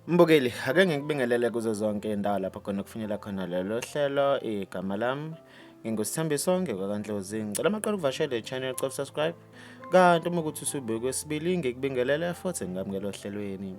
Mbukeli, ake ngikubingelele kuzo zonke indawo lapho khona kufinyela khona lelo hlelo igama lami ngingusithambiso ngekwakanhlozi ngicela amaqala ukuvashela i-channel cop subscribe Kanti uma ukuthi usubuye kwesibili ngikubingelele futhi ngamukela ohlelweni.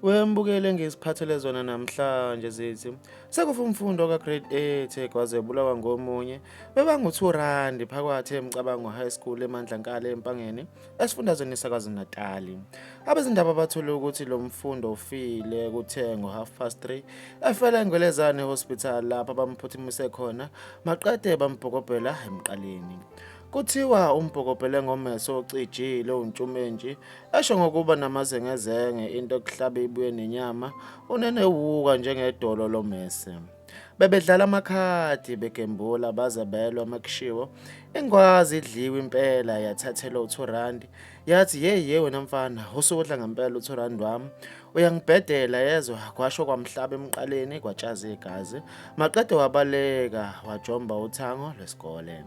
Wembukele ngiziphathele zona namhlanje zithi sekufa umfundo ka grade 8 kwaze bulawa ngomunye bebangu 2 rand phakathi emcabango high school emandla nkale empangeni esifundazweni sakazi Natali. Abezindaba bathule ukuthi lo mfundo ufile kuthe ngo half past 3 efela engwelezane hospital lapha bamphuthumise khona maqede bambhokobhela emqaleni. Kuthiwa umbhokobhele ngomeso ocijile uNtshumenji, esho ngokuba namazengezenge into ekuhlabe ibuye nenyama, unenewuka njengedolo lomese. Bebedlala amakhadi begembula baze belwa makushiwo. Ingwazi idliwe impela yathathelwa u-2 rand. Yathi yeyi ye wena mfana usukudla ngempela u-2 rand wami. Uyangibhedela yezwa kwasho kwamhlaba emqaleni kwatshaza igazi. Maqede wabaleka wajomba uthango lwesikole.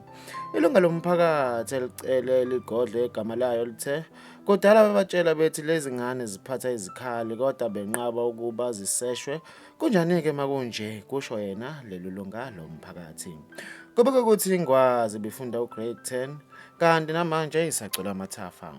Ilunga lomphakathi elicele ligodle igama layo lithe kudala babatshela bethi lezi ngane ziphatha izikhali kodwa benqaba ukuba ziseshwe kunjani-ke makunje kusho yena leli lunga lomphakathi kubeka ukuthi ingwazi bifunda ugrade 10 kanti namanje isacula amathafa